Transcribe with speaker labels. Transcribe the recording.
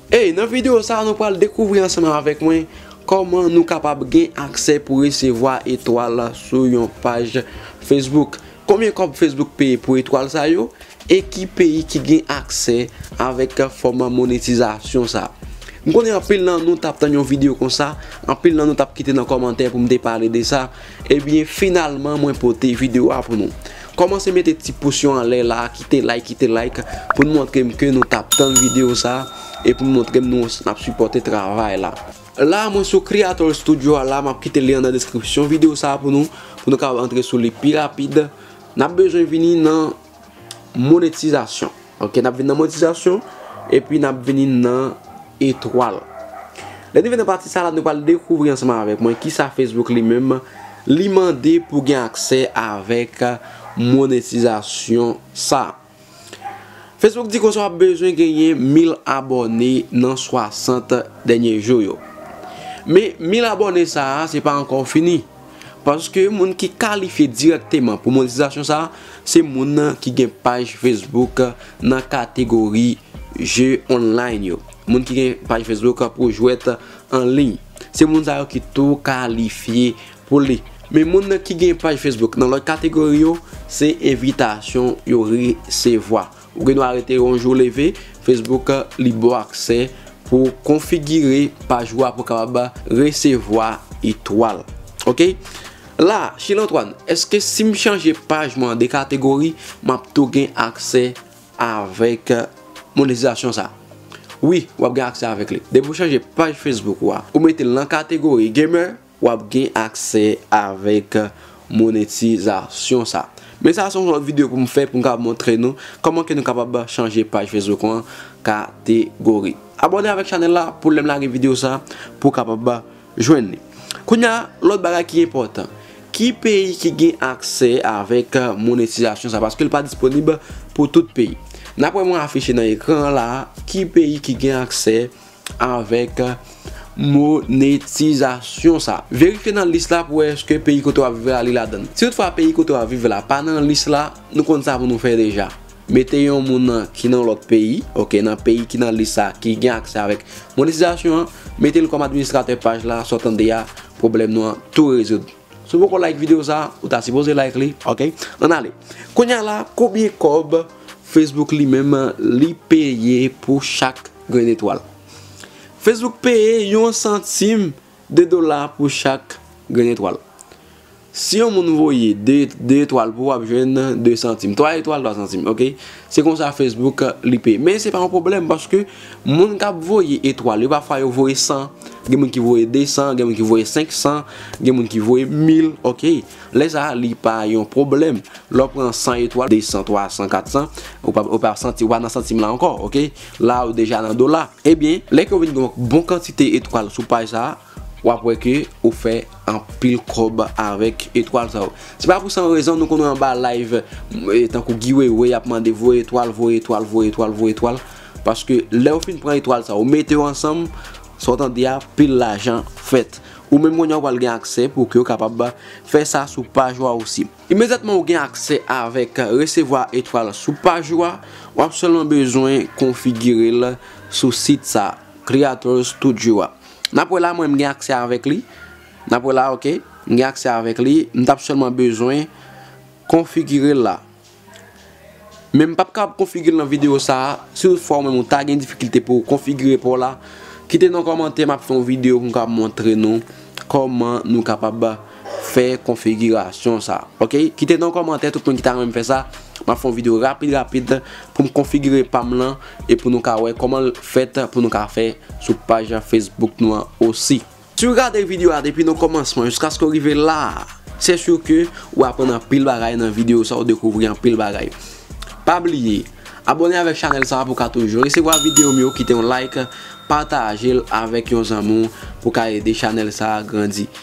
Speaker 1: Hey, nan videyo sa nou pral dekouvri ansanm avèk mwen kòman nou kapab gen aksè pou resevwa etwal sou yon paj Facebook. Konbyen kòb Facebook peye pou etwal sa yo e ki peyi ki gen aksè avèk fòm monetizasyon sa. M konnen anpil nan nou tap tann yon videyo konsa, anpil nan nou tap kite nan kòmantè pou m te pale de sa, Ebyen finalman mwen pote video a pou nou. Komanse mete ti pous yo anlè la, kite like kite like pou nou montre m ke nou tap tann video sa e pou nou montre m nou ap sipòte travay la. La mwen sou Kreatòl Studio a la map kite lyen nan deskripsyon video sa pou nou, pou nou kapab antre sou li pi rapid. Nap bezwen vini nan. Monetizasyon Ok nap vin nan monetizasyon Epi nap vini nan etwal Lè nou vin nan pati sa la nou pral dekouvri ansanm avèk mwen kisa Facebook li menm li mande pou gen aksè avèk monetizasyon sa Facebook di konsa wap bezwen genyen 1000 abòne nan 60 dènye jou yo Men 1000 abòne sa se pa ankò fini. Paske moun ki kalifye dirèkteman pou monetizasyon sa a, se moun ki gen paj Facebook nan kategori je online yo. Moun ki gen paj Facebook pou jwèt an liy. Se moun sa yo ki tou kalifye pou li. Men moun ki gen paj Facebook nan lòt kategori yo, se envitasyon yo resevwa. Ou gen dwa rete yon jou leve, Facebook li ba w aksè pou w konfigire paj ou a pou w kapab resevwa etwal. Ok. La, Shil Antoine, eske si m chanje paj mwen an de kategori, m ap tou gen aksè avèk monetizasyon sa a? Wi, w ap gen aksè avèk li. Depi ou chanje paj Facebook ou a, ou mete l nan kategori Gamer, w ap gen aksè avèk monetizasyon sa. Men sa se yon lòt videyo pou m fè pou m ka montre nou kòman ke nou kapab chanje paj Facebook ou an kategori. Abòne avèk chanèl la pou lè m lage videyo sa pou w kapab jwenn li. Kounye a, lòt bagay ki enpòtan. Ki peyi ki gen aksè avèk monetizasyon sa? Paske li pa disponib pou tout peyi. N ap wè mwen afiche nan ekran an la a ki peyi ki gen aksè avèk monetizasyon sa. Verifye nan lis la pou wè eske peyi kote wap viv la li ladann. Si tout fwa peyi kote wap viv la pa nan lis la, nou konn sa pou nou fè deja. Mete yon moun ki nan lòt peyi, ok, nan peyi ki nan lis sa ki gen aksè avèk monetizasyon an, mete l kòm administratè paj la, sa w tande a, pwoblèm nou an tou rezoud. Si w poko like video sa, ou ta sipoze like li ok. Ann ale. Kounya la konbyen kòb Facebook li menm li peye pou chak grenn etwal? Facebook peye yon santim de dola pou chak grenn etwal. Si yon moun voye 2 etwal pou ou ap jwenn 2 santim. 3 etwal 3 santim ok. Se konsa Facebook li peye. Men se pa yon pwoblèm paske. Moun kap voye etwal yo pa fwa yo voye 100 gen moun ki voye 200 gen moun ki voye 500 gen moun ki voye 1000 ok lè sa li pa yon pwoblèm lè w pran 100 etwal 200 300 400 ou pa ou pa santi ou pa nan santim la ankò ok la ou deja nan dola ebyen lè ke ou vin gen yon bon kantite etwal sou paj sa Wap wè ke ou fè anpil kòb avèk etwal sa yo. Se pa pou san rezon nou konn wè anba live tankou Guy Wewe yap mande voye etwal, voye etwal, voye etwal, voye etwal. Paske lèw fin pran etwal sa yo mete yo ansanm, sa w tande a pil lajan fèt. Ou menm kounye a ou pral gen aksè pou ke ou kapab fè sa sou paj ou a osi. Imedyatman ou gen aksè avèk resevwa etwal sou paj ou a, wap sèlman bezwen konfigire l sou sit sa, Creator Studio a. Nap wè la mwen m gen aksè avèk li nap wè la ok m gen aksè avèk li m tap sèlman bezwen konfigirel la men m pap kapab konfigirel nan video sa si tout fwa ou menm ou ta gen difikilte pouw konfigire paw la kite nan kòmantè map fè yon video poum kapab montre nou kòman nou kapab fè konfigirasyon sa ok kite nan kòmantè tout moun ki ta renmn fè sa map fè yon video rapid rapid poum konfigire pam lan e pou nou ka wè kòmanl fèt pou nou ka fè sou paj Facebook nou an osi. Si ou gade video a depi nan kòmansman jiskaske ou rive la se sur ke ou aprann anpil bagay nan video sa ou dekouvri anpil bagay pa bliye abòne avèk chanèl sa pou ka toujou resevwa videom yo kite yon like patajel avèk yon zanmi w pou ka ede chanèl sa grandi